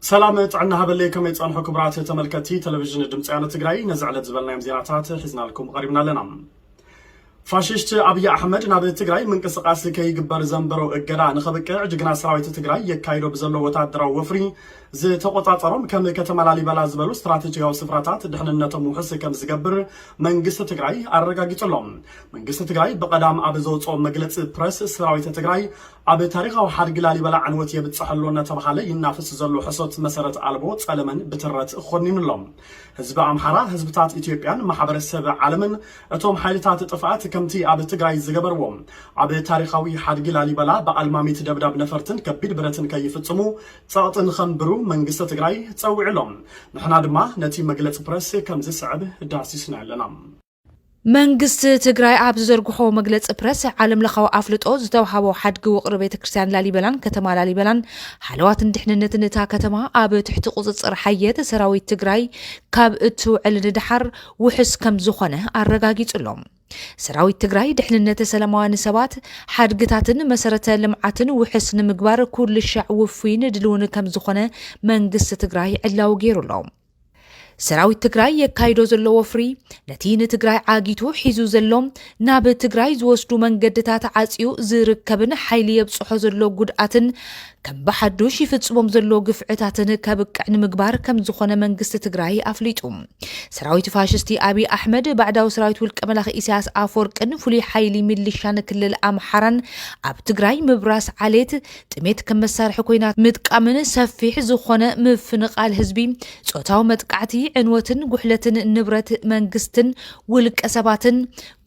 ሰላም ጥዕና ሃበለይ ከመይ ጸንሑ ክብራት ተመልከቲ ቴሌቪዥን ድምፂ ያነ ትግራይ ነዚ ዕለት ዝበልናዮም ዜናታት ሒዝናልኩም ቀሪብና ኣለና ፋሽስት ኣብይ ኣሕመድ ናብ ትግራይ ምንቅስቃስ ከይግበር ዘንበሮ እገዳ ንኸብቅዕ ጅግና ሰራዊት ትግራይ የካይዶ ብዘሎ ወታደራዊ ወፍሪ ዝተቆፃፀሮም ከም ከተማ ላሊበላ ዝበሉ ስትራቴጂካዊ ስፍራታት ድሕንነቶም ውሕስ ከም ዝገብር መንግስቲ ትግራይ ኣረጋጊፁሎም መንግስቲ ትግራይ ብቐዳም ኣብ ዘውፅኦ መግለፂ ፕረስ ሰራዊት ትግራይ ኣብ ታሪኻዊ ሓድጊ ላሊበላ ዕንወት የብፅሕ ኣሎ እናተብሃለ ይናፍስ ዘሎ ሕሶት መሰረት ኣልቦ ፀለመን ብትረት ኾኒኑ ኣሎ። ህዝቢ ኣምሓራ፣ ህዝብታት ኢትዮጵያን ማሕበረ ሰብ ዓለምን እቶም ሓይልታት ጥፍኣት ከምቲ ኣብ ትግራይ ዝገበርዎ ኣብ ታሪኻዊ ሓድጊ ላሊበላ ብኣልማሚት ደብዳብ ነፈርትን ከቢድ ብረትን ከይፍፅሙ ፀቕጢ ንኸንብሩ መንግስቲ ትግራይ ፀዊዑ ኣሎ። ንሕና ድማ ነቲ መግለፂ ፕረስ ከምዝስዕብ ዳህሲስናዮ ኣለና። መንግስቲ ትግራይ ኣብ ዝዘርግሖ መግለፂ ፕረስ ዓለም ለኻዊ ኣፍልጦ ዝተውሃቦ ሓድጊ ውቕሪ ቤተ ክርስቲያን ላሊበላን ከተማ ላሊበላን ሓለዋትን ድሕንነትን እታ ከተማ ኣብ ትሕቲ ቁፅፅር ሓየት ሰራዊት ትግራይ ካብ እትውዕል ንደሓር ውሕስ ከም ዝኾነ ኣረጋጊፁ ኣሎ። ሰራዊት ትግራይ ድሕንነት ሰላማውያን ሰባት ሓድግታትን መሰረተ ልምዓትን ውሕስ ንምግባር ኩልሻዕ ውፉይን ድልውን ከም ዝኾነ መንግስቲ ትግራይ ዕላዊ ገይሩ ኣሎ። ሰራዊት ትግራይ የካይዶ ዘሎ ወፍሪ ነቲ ንትግራይ ዓጊቱ ሒዙ ዘሎ ናብ ትግራይ ዝወስዱ መንገድታት ዓፅዩ ዝርከብን ሓይሊ የብፅሖ ዘሎ ጉድኣትን ከም ብሓዱሽ ይፍፅሞም ዘሎ ግፍዕታትን ከብቅዕ ንምግባር ከም ዝኾነ መንግስቲ ትግራይ ኣፍሊጡ። ሰራዊት ፋሽስቲ ኣብይ ኣሕመድ ባዕዳዊ ሰራዊት ውልቀ መላኺ ኢሳያስ ኣፈወርቅን ፍሉይ ሓይሊ ሚሊሻን ክልል ኣምሓራን ኣብ ትግራይ ምብራስ ዓሌት ጥሜት ከም መሳርሒ ኩናት ምጥቃምን ሰፊሕ ዝኾነ ምፍንቓል ህዝቢ፣ ጾታዊ መጥቃዕቲ፣ ዕንወትን ጉሕለትን ንብረት መንግስትን ውልቀ ሰባትን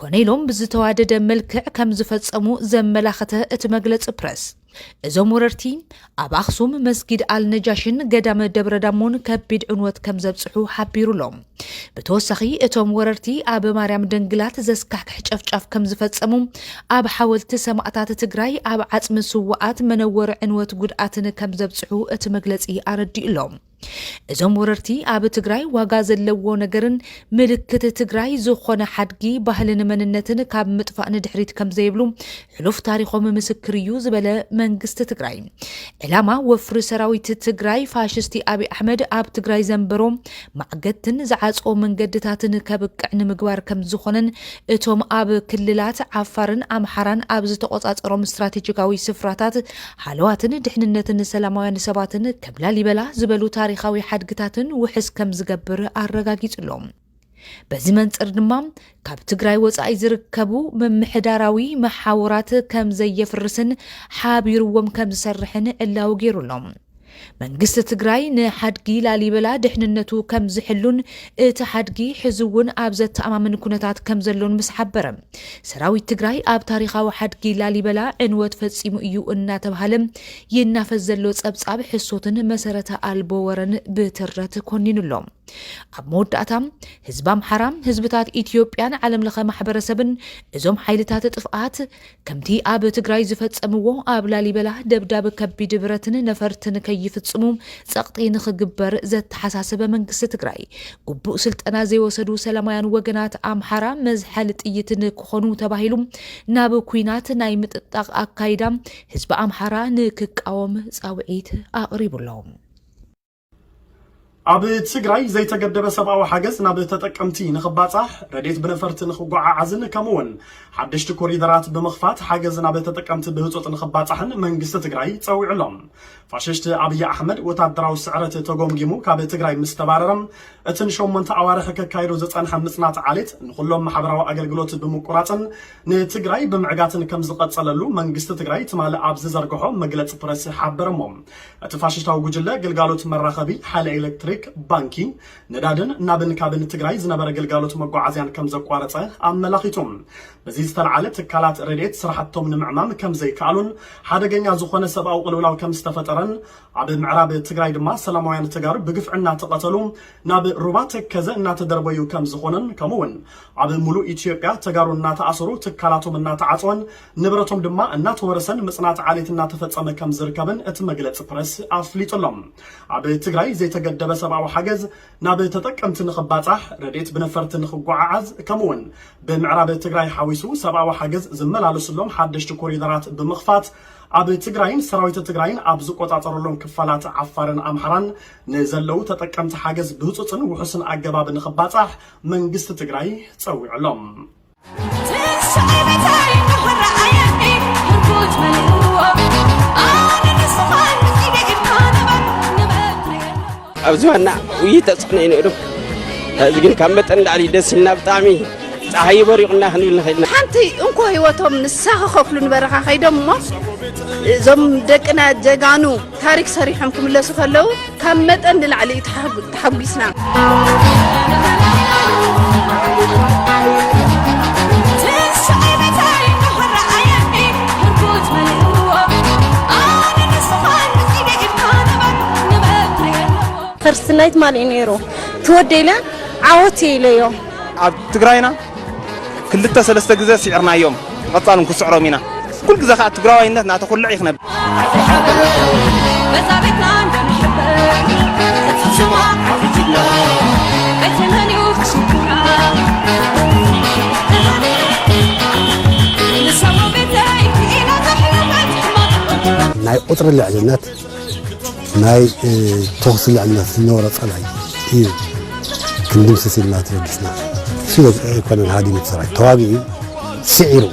ኮነ ኢሎም ብዝተዋደደ መልክዕ ከም ዝፈጸሙ ዘመላኸተ እቲ መግለጺ ፕረስ፣ እዞም ወረርቲ ኣብ ኣኽሱም መስጊድ ኣልነጃሽን ገዳመ ደብረዳሞን ከቢድ ዕንወት ከም ዘብጽሑ ሓቢሩ ኣሎ። ብተወሳኺ እቶም ወረርቲ ኣብ ማርያም ደንግላት ዘስካሕክሕ ጨፍጫፍ ከም ዝፈጸሙ፣ ኣብ ሓወልቲ ሰማእታት ትግራይ፣ ኣብ ዓጽሚ ስዉኣት መነወሪ ዕንወት ጉድኣትን ከም ዘብጽሑ እቲ መግለጺ ኣረዲኡ ኣሎ። እዞም ወረርቲ ኣብ ትግራይ ዋጋ ዘለዎ ነገርን ምልክት ትግራይ ዝኾነ ሓድጊ ባህልን መንነትን ካብ ምጥፋእ ንድሕሪት ከም ዘይብሉ ሕሉፍ ታሪኾም ምስክር እዩ ዝበለ መንግስቲ ትግራይ ዕላማ ወፍሪ ሰራዊት ትግራይ ፋሽስቲ ኣብይ ኣሕመድ ኣብ ትግራይ ዘንበሮ ማዕገድትን ዝዓፅኦ መንገድታትን ከብቅዕ ንምግባር ከም ዝኾነን እቶም ኣብ ክልላት ዓፋርን ኣምሓራን ኣብ ዝተቆፃፀሮም ስትራቴጂካዊ ስፍራታት ሃለዋትን ድሕንነትን ሰላማውያን ሰባትን ከም ላሊበላ ዝበሉ ታሪኻዊ ሓድግታትን ውሕስ ከም ዝገብር ኣረጋጊፁሎም። በዚ መንፅር ድማ ካብ ትግራይ ወፃኢ ዝርከቡ ምምሕዳራዊ መሓውራት ከም ዘየፍርስን ሓቢርዎም ከም ዝሰርሕን ዕላዊ ገይሩ ኣሎ። መንግስቲ ትግራይ ንሓድጊ ላሊበላ ድሕንነቱ ከም ዝሕሉን እቲ ሓድጊ ሕዚ እውን ኣብ ዘተኣማምን ኩነታት ከም ዘሎን ምስ ሓበረ ሰራዊት ትግራይ ኣብ ታሪኻዊ ሓድጊ ላሊበላ ዕንወት ፈፂሙ እዩ እናተብሃለ ይናፈስ ዘሎ ፀብፃብ ሕሶትን መሰረተ ኣልቦ ወረን ብትረት ኮኒኑ ኣሎ። ኣብ መወዳእታ ህዝቢ ኣምሓራ፣ ህዝብታት ኢትዮጵያን ዓለም ለኸ ማሕበረሰብን እዞም ሓይልታት ጥፍኣት ከምቲ ኣብ ትግራይ ዝፈፀምዎ ኣብ ላሊበላ ደብዳብ ከቢድ ብረትን ነፈርትን ከይፍፅሙ ፀቕጢ ንኽግበር ዘተሓሳሰበ መንግስቲ ትግራይ ግቡእ ስልጠና ዘይወሰዱ ሰላማውያን ወገናት ኣምሓራ መዝሐሊ ጥይት ንክኾኑ ተባሂሉ ናብ ኩናት ናይ ምጥጣቕ ኣካይዳ ህዝቢ ኣምሓራ ንክቃወም ፃውዒት ኣቕሪቡ ኣሎ። ኣብ ትግራይ ዘይተገደበ ሰብኣዊ ሓገዝ ናብ ተጠቀምቲ ንኽባፃሕ፣ ረድኤት ብነፈርቲ ንኽጓዓዓዝን ከምኡ እውን ሓደሽቲ ኮሪደራት ብምኽፋት ሓገዝ ናብ ተጠቀምቲ ብህፁፅ ንኽባፃሕን መንግስቲ ትግራይ ፀዊዑ ኣሎ። ፋሽስት ኣብይ ኣሕመድ ወታደራዊ ስዕረት ተጎምጊሙ ካብ ትግራይ ምስ ተባረረ እቲ ንሸሞንተ ኣዋርሕ ከካይዶ ዝፀንሐ ምፅናት ዓሌት ንኹሎም ማሕበራዊ ኣገልግሎት ብምቁራፅን ንትግራይ ብምዕጋትን ከምዝቐፀለሉ መንግስቲ ትግራይ ትማሊ ኣብ ዝዘርገሖ መግለፂ ፕረስ ሓበረሞ። እቲ ፋሽሽታዊ ጉጅለ ግልጋሎት መራኸቢ፣ ሓይሊ ኤሌክትሪክ፣ ባንኪ፣ ነዳድን ናብን ካብን ትግራይ ዝነበረ ግልጋሎት መጓዓዝያን ከምዘቋረፀ ኣመላኺቱ። በዚ ዝተልዓለ ትካላት ረድኤት ስራሕቶም ንምዕማም ከምዘይከኣሉን ሓደገኛ ዝኾነ ሰብኣዊ ቅልውላው ከምዝተፈጠረን ኣብ ምዕራብ ትግራይ ድማ ሰላማውያን ተጋሩ ብግፍዒ እናተቐተሉ ናብ ሩባ ተከዘ እናተደርበዩ ከምዝኾነን ከምኡ እውን ኣብ ሙሉእ ኢትዮጵያ ተጋሩ እናተኣሰሩ ትካላቶም እናተዓፀወን ንብረቶም ድማ እናተወረሰን ምፅናት ዓሌት እናተፈፀመ ከም ዝርከብን እቲ መግለፂ ፕረስ ኣፍሊጡ ኣሎ። ኣብ ትግራይ ዘይተገደበ ሰብኣዊ ሓገዝ ናብ ተጠቀምቲ ንኽባፃሕ፣ ረድኤት ብነፈርቲ ንኽጓዓዓዝ ከምኡ እውን ብምዕራብ ትግራይ ሓዊሱ ሰብኣዊ ሓገዝ ዝመላለሱሎም ሓደሽቲ ኮሪደራት ብምኽፋት ኣብ ትግራይን ሰራዊት ትግራይን ኣብ ዝቆፃፀረሎም ክፋላት ዓፋርን ኣምሓራን ንዘለው ተጠቀምቲ ሓገዝ ብህፁፅን ውሑስን ኣገባብ ንኽባፃሕ መንግስቲ ትግራይ ፀዊዑ ኣሎ። ኣብ ዝባና ውይ ተፅዕኖ እዩ ነይሩ እዚ ግን ካብ መጠን ንላዕሊ ደስ ኢልና ብጣዕሚ ፀሓይ በሪቑና ክንብል ንኽእል ኢና ሓንቲ እንኮ ህይወቶም ንሳ ክኸፍሉ ንበረኻ ከይዶም እሞ እዞም ደቅና ጀጋኑ ታሪክ ሰሪሖም ክምለሱ ከለው ካብ መጠን ንላዕሊ እዩ ተሓጉ- ተሓጒስና ፈርስት ናይት ማን እዩ ነይሩ ትወደለ ዓወት ኢለዮ ኣብ ትግራይና ክልተ ሰለስተ ግዘ ሲዕርናዮም ቐፃል ውን ክስዕሮም ኢና ኩል ግዘ ካዓ ትግራዋይነት ናተኹልዕ እዩ ክነብ ናይ ቁፅሪ ልዕልነት ናይ ተኹሲ ልዕልነት ዝነበሮ ጸላኢ እዩ ክንድምስስ ኢልና ተበጊስና ስለ ኣይኮነን ሃዲሙ ሰራዊት ተዋጊኡ ስዒርዎ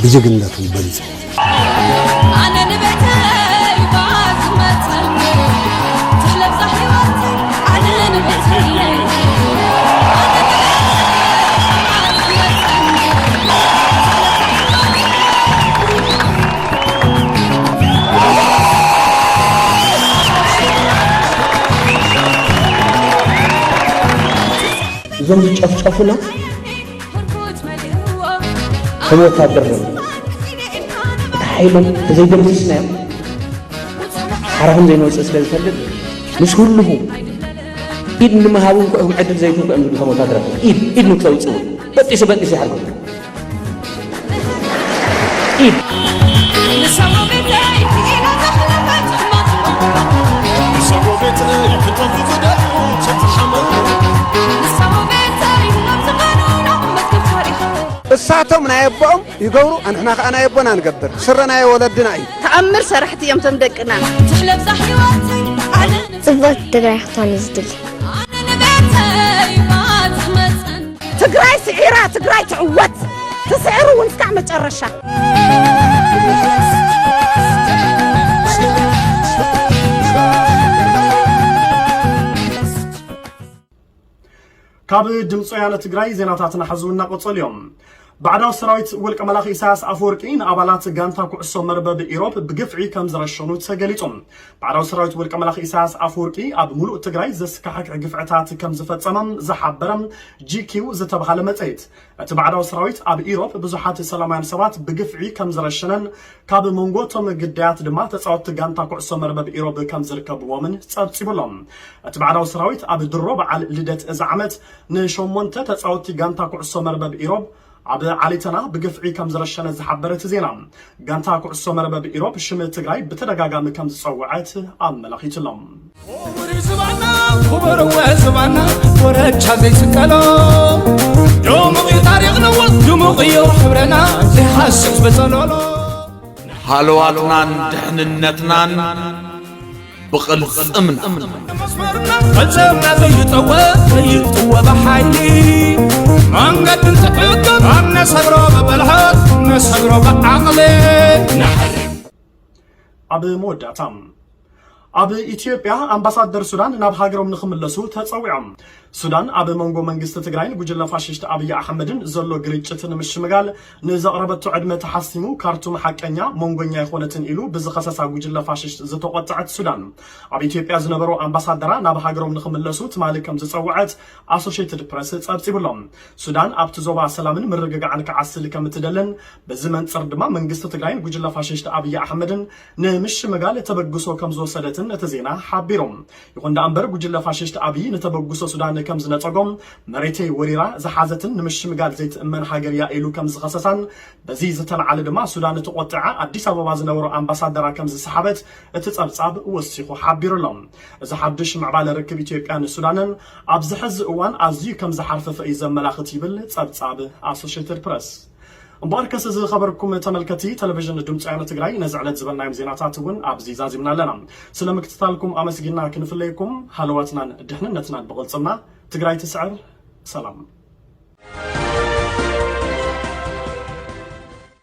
ብጅግንነቱ በሊጹ እዞም ዝጨፍጨፉና ከም ወታደር ነ እቲ ሓይሎም ተዘይደምስስናዮም ሓራኹም ዘይንወፅእ ስለ ዝፈልጥ ምስ ህልኹ ኢድ ንምሃብ እንኩዕኩም ዕድል ዘይትንኩ እዮም ዝብሉ ከም ወታደራት ኢድ ኢድ ንክተውፅኡ በጢሱ በጢሱ ይሓርኩም እሳቶም ናይ ኣቦኦም ይገብሩ ኣንሕና ከዓ ናይ ኣቦና ንገብር ስረ ናይ ወለድና እዩ ተኣምር ሰራሕቲ እዮም ቶም ደቅና ጽብቕቲ ትግራይ ክትኾን እዩ ዝድሊ ትግራይ ስዒራ ትግራይ ትዕወት ትስዕር እውን እስካዕ መጨረሻ። ካብ ድምፂ ወያነ ትግራይ ዜናታትና ሐዚ እውን እናቐፀሉ እዮም። ባዕዳዊ ሰራዊት ውልቀ መላኺ ኢሳያስ ኣፈወርቂ ንኣባላት ጋንታ ኩዕሶ መርበብ ኢሮብ ብግፍዒ ከም ዝረሸኑ ተገሊጹ። ባዕዳዊ ሰራዊት ውልቀ መላኺ ኢሳያስ ኣፈወርቂ ኣብ ሙሉእ ትግራይ ዘስካሕክሕ ግፍዕታት ከም ዝፈጸመ ዝሓበረ GQ ዝተብሃለ መጽሔት፣ እቲ ባዕዳዊ ሰራዊት ኣብ ኢሮብ ብዙሓት ሰላማውያን ሰባት ብግፍዒ ከም ዝረሸነን ካብ መንጎ እቶም ግዳያት ድማ ተጻወትቲ ጋንታ ኩዕሶ መርበብ ኢሮብ ከም ዝርከብዎምን ጸብጺቡ'ሎ። እቲ ባዕዳዊ ሰራዊት ኣብ ድሮ በዓል ልደት እዚ ዓመት ንሸሞንተ ተጻወትቲ ጋንታ ኩዕሶ መርበብ ኢሮብ ኣብ ዓሊተና ብግፍዒ ከም ዝረሸነ ዝሓበረ እቲ ዜና፣ ጋንታ ኩዕሶ መርበብ ኢሮብ ሽም ትግራይ ብተደጋጋሚ ከም ዝጸወዐት ኣመላኺቱ'ሎ። ኹቡር ዝባና ኹቡር ወ ዝባና ኮረቻ ዘይስቀሎ ድሙቕ እዩ ታሪኽና ወ ድሙቕ እዩ ሕብረና ዘይሓስብ በጸሎሎ። ሃለዋትናን ድሕንነትናን ብቕልፅምና ፈፀምና ዘይጠወ ዘይጥወ ብሓይሊ መንገዲ እንትሕግር ኣብ ነሰግሮ ብብልሃት ነሰግሮ ብዓቕሊ ኣብ መወዳእታ ኣብ ኢትዮጵያ ኣምባሳደር ሱዳን ናብ ሃገሮም ንክምለሱ ተፀዊዖም ሱዳን ኣብ መንጎ መንግስቲ ትግራይን ጉጅለ ፋሽስት ኣብይ ኣሕመድን ዘሎ ግርጭት ንምሽምጋል ንዘቕረበቶ ዕድመ ተሓሲሙ ካርቱም ሓቀኛ መንጎኛ ኣይኾነትን ኢሉ ብዝኸሰሳ ጉጅለ ፋሽስት ዝተቖጠዐት ሱዳን ኣብ ኢትዮጵያ ዝነበሩ ኣምባሳደራ ናብ ሃገሮም ንኽምለሱ ትማሊ ከም ዝፀውዐት ኣሶሼትድ ፕረስ ፀብፂቡ ኣሎ። ሱዳን ኣብቲ ዞባ ሰላምን ምርግጋዕን ክዓስል ከም እትደልን በዚ መንፅር ድማ መንግስቲ ትግራይን ጉጅለ ፋሽስት ኣብይ ኣሕመድን ንምሽምጋል ተበግሶ ከምዝወሰደትን እቲ ዜና ሓቢሩ። ይኹን ደኣምበር ጉጅለ ፋሽስት ኣብይ ንተበግሶ ሱዳን ከምዝነጸጎ፣ መሬተይ ወሪራ ዝሓዘትን ንምሽምጋል ዘይትእመን ሃገር እያ ኢሉ ከምዝኸሰሳን በዚ ዝተልዓለ ድማ ሱዳን ተቖጢዓ ኣዲስ ኣበባ ዝነበሮ ኣምባሳደራ ከምዝሰሓበት እቲ ጸብጻብ ወሲኹ ሓቢሩ'ሎ። እዚ ሓዱሽ ምዕባለ ርክብ ኢትዮጵያን ሱዳንን ኣብዚ ሕዚ እዋን ኣዝዩ ከምዝሓርፈፈ እዩ ዘመላኽት ይብል ጸብጻብ ኣሶሼትድ ፕረስ። እምበኣርከስ ዝኸበርኩም ተመልከቲ ተለቪዥን ድምፂ ወያነ ትግራይ ነዚ ዕለት ዝበልናዮም ዜናታት እውን ኣብዚ ዛዚምና ኣለና። ስለ ምክትታልኩም ኣመስጊና ክንፍለየኩም ሃለዋትናን ድሕንነትናን ብቕልፅምና ትግራይ ትስዕር! ሰላም!